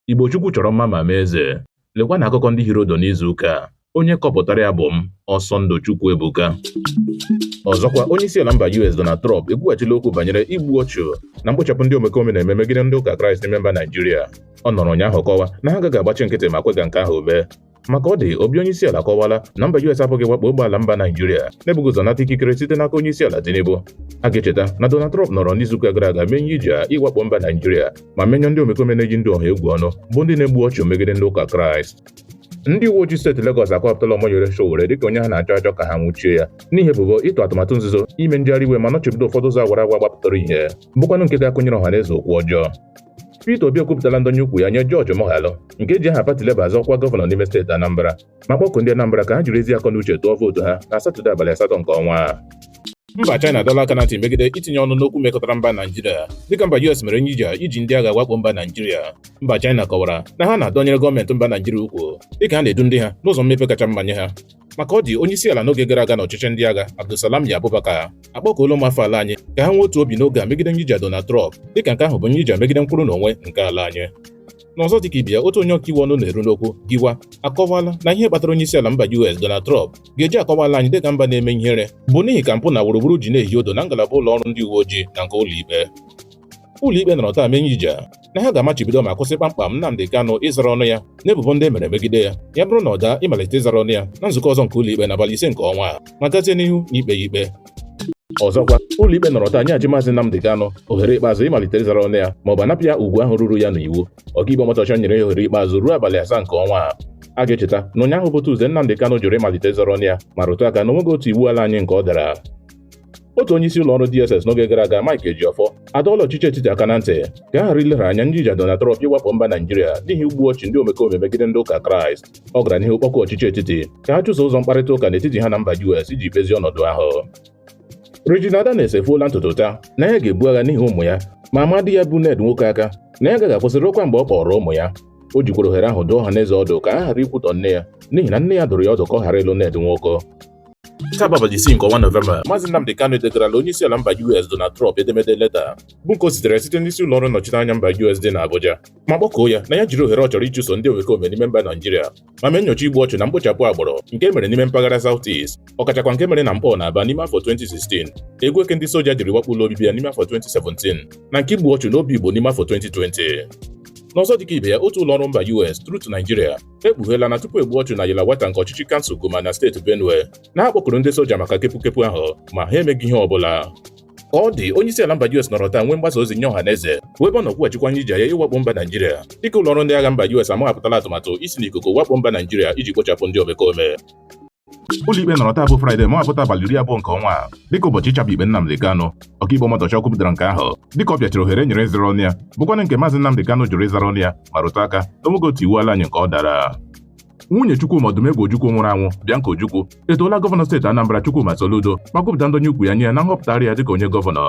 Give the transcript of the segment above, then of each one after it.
Igbo Chukwu chọrọ mma ma mee eze. Lekwa na akụkọ ndị hiri odo n'izu ụka a. Onye kọpụtara ya bụ m, Ọsọndụ Chukwuebuka. Ọzọkwa, onye isi ala mba US Donald Trump ekwughachila okwu banyere igbu ọchụ na mkpochapụ ndị omekome na-eme megide ndị ụka Kraịst n'ime mba Naijiria. Ọ nọrọ ụnyaahụ kọwa na ha agaghị agbachi nkịtị ma kwe ka nke ahụ mee. ma ka ọ dị obi onyeisiala akọwala na mba US apụghị wakpo ogbe ala mba Naijiria na-ebughị ụzọ nata ikikere site n'aka onyeisiala Tinubu a ga-echeta na Donald Trump nọrọ n'izuụka gara aga mee nyija ịwakpo mba Naijiria ma menye ndị omekome na-eyi ndụ ọha egwu ọnụ bụ ndị na-egbu ọchụ megide ndị ụka Kraịst ndị uwe ojii steeti Legọs akọwapụtala Omoyele Sowore dịka onye ha na-achọ achọ ka ha nwụchie ya n'ihi ebubo ịtụ atụmatụ nzuzo ime njegharị iwe ma nọchibido ụfọdụ ụzọ awara awa gbapụtara ihe bụkwanụ nke ga-akụnyere ọhaneze okwu ọjọọ Peter Obi ekwupụtala ndọnye ukwu ya nye George Moghalu nke ji aha pati Labour azọ ọkwa gọvanọ n'ime steeti Anambra ma kpọkuo ndị Anambra ka ha jiri ezi akọ na uche tụọ vootu ha na Satọde abalị asatọ nke ọnwa a mba China adọla aka na ntị megide itinye ọnụ n'okwu mekọtara mba Naijiria dịka mba US mere nyija iji ndị agha wakpo mba Naijiria mba China kọwara na ha na-adọnyere gọọmenti mba Naijiria ukwu dịka ha na-edu ndị ha n'ụzọ mmepe kacha mma nye ha ma ka ọ dị onye isi ala n'oge gara aga n'ọchịchị ndị agha Abdulsalami Abubakar akpọkuola ụmụafọ ala anyị ka ha nwee otu obi n'oge a megide nyija Donald Trump dịka nke ahụ bụ nyija megide nkwụrụ n'onwe nke ala anyị n'ọzọ dịka ibe ya otu onye ọkaiwu ọnụ na-eru n'okwu Giwa akọwala na ihe kpatara onye isi ala mba US Donald Trump ga-eji akọwa ala anyị dịka mba na-eme ihere bụ n'ihi ka mpụ na wuruwuru ji na-ehi odo na ngalaba ụlọ ọrụ ndị uwe ojii na nke ụlọikpe ụlọikpe nọrọ taa mee nyija na ha ga-amachibido ma kwụsị kpamkpam Nnamdi Kanu ịzara ọnụ ya n'ebubo ndị e mere megide ya ya bụrụ na ọ daa ịmalite ịzara ọnụ ya na nzukọ ọzọ nke ụlọikpe n'abalị ise nke ọnwa a ma gazie n'ihu n'ikpe ya ikpe ọzọkwa ụlọikpe nọrọ taa nyeghachi maazị Nnamdi Kanu ohere ikpeazụ ịmalite ịzara ọnụ ya ma ọ bụ a napụ ya ugwu ahụ ruru ya n'iwu ọkaikpe Omotosho nyere ya ohere ikpeazụ ruo abalị asaa nke ọnwa a a ga-echeta na ụnyaahụ bụ Tuzdee Nnamdi Kanu jụrụ ịmalite ịzara ọnụ ya ma rụtụ aka na o nweghị otu iwu ala anyị nke ọ dara otu onye isi ụlọ ọrụ DSS n'oge gara aga Mike Ejiofor adọọla ọchịchị etiti aka na ntị ka a ghara ileghara anya nyija Donald Trump ịwakpo mba Naijiria n'ihi igbu ọchụ ndị omekome megide ndị ụka Kraịst ọ gara n'ihu kpọkuo ọchịchị etiti ka ha chụso ụzọ mkparịta ụka n'etiti ha na mba US iji kpezie ọnọdụ ahụ Regina Daniels efuola ntutu taa na ya ga-ebu agha n'ihi ụmụ ya ma maa di ya bụ Ned Nwoko aka na ya agaghị akwụsị ruokwa mgbe ọ kpọrọ ụmụ ya o jikwara ohere ahụ dụọ ọha na eze ọdụ ka a ghara ikwutọ nne ya n'ihi na nne ya dụrụ ya ọdụ ka ọ ghara ịlụ Ned Nwoko Taa bụ abalị isii nke ọnwa Nọvemba, Maazị Nnamdi Kanu edegarala onye isi ala mba US Donald Trump edemede leta bụ nke o zitere site n'isi ụlọ ọrụ nnọchiteanya mba US dị n'Abuja ma kpọkuo ya na ya jiri ohere ọ chọrọ ịchụso ndị omekome n'ime mba Naijiria ma mee nyocha igbu ọchụ na mkpochapụ agbụrụ nke e mere n'ime mpaghara South East ọkachakwa nke mere na Nkpọ na Aba n'ime afọ 2016 egwu eke ndị soja jiri wakpo ụlọ obibi ya n'ime afọ 2017 na nke igbu ọchụ n'Obigbo n'ime afọ 2020 n'ọzọ dịka ibe ya otu ụlọ ọrụ mba US Truth Nigeria ekpugheela na tupu egbu ọchụ na Yelawata nke ọchịchị kansụl Guma na steeti Benue na ha kpọkuru ndị soja maka kepukepu ahụ ma ha emeghị ihe ọbụla ka ọ dị onye isi ala mba US nọrọ taa nwee mgbasa ozi nye ọha na eze bụ ebe ọ nọ kwughachikwa nye iji ya ịwakpo mba Naijiria dịka ụlọọrụ ndị agha mba US amaghapụtala atụmatụ isi n'ikuku wakpo mba Naijiria iji kpochapụ ndị omekome ụlọikpe nọrọ taa bụ fraịde maghapụta abalị iri abụọ nke ọnwa a dịka ụbọchị ịchabi ikpe Nnamdi Kanu ọkaikpe Omotosho kwupụtara nke ahụ dịka ọ pịachiri ohere e nyere ịzara ọnụ ya bụkwanụ nke maazị Nnamdi Kanu jụrụ ịzara ọnụ ya ma rụtụ aka na o nweghị otu iwu ala anyị nke ọ dara nwunye Chukwuma Odumegwu Ojukwu nwụrụ anwụ Bianca Ojukwu etoola gọvanọ steeti Anambra Chukwuma Soludo ma kwupụta ndọnye ukwu ya nye ya na nhọpụtagharị ya dịka onye gọvanọ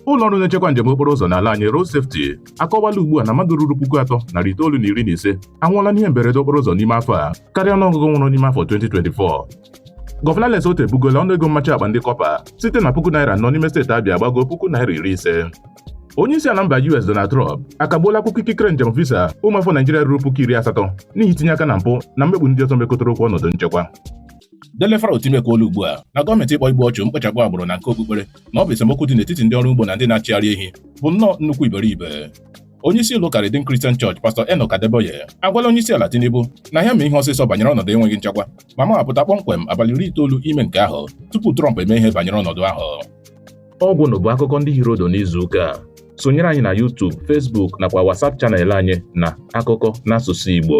ụlọ ọrụ na-echekwa njem okporo ụzọ n'ala anyị Road Safety akọwala ugbu a na mmadụ ruru puku atọ narị itoolu na iri na ise anwụọla n'ihe mberede okporo ụzọ n'ime afọ a karịa ọnụọgụgụ nwụrụ n'ime afọ 2024 Gọvanọ Alex Otti ebugoola ọnụ ego mmachi akpa ndị kọpa site na puku naira anọ n'ime steeti Abịa gbago puku naira iri ise onye isi ala mba US Donald Trump akagbuola akwụkwọ ikikere njem visa ụmụafọ Naijiria ruru puku iri asatọ n'ihi itinye aka na mpụ na mmegbu ndị ọzọ mekọtara okwu ọnọdụ nchekwa Dele Farotimi ekwuola ugbu a na gọọmenti ịkpọ igbu ọchụ mkpochapụ agbụrụ na nke okpukpere na ọ bụ esemokwu dị n'etiti ndị ọrụ ugbo na ndị na-achịgharị ehi bụ nnọọ nnukwu iberibe onye isi ụlọ ụka Redeemed Christian Church pastọ Enoch Adeboye agwala onye isi ala Tinubu na ya mee ihe ọsịsọ banyere ọnọdụ enweghị nchekwa ma maghapụta kpọmkwem abalị iri itoolu ime nke ahụ tupu Trump eme ihe banyere ọnọdụ ahụ ọgwụ na bụ akụkọ ndị hiri udu n'izu ụka a sonyere anyị na YouTube Facebook nakwa WhatsApp chanel anyị na akụkọ n'asụsụ Igbo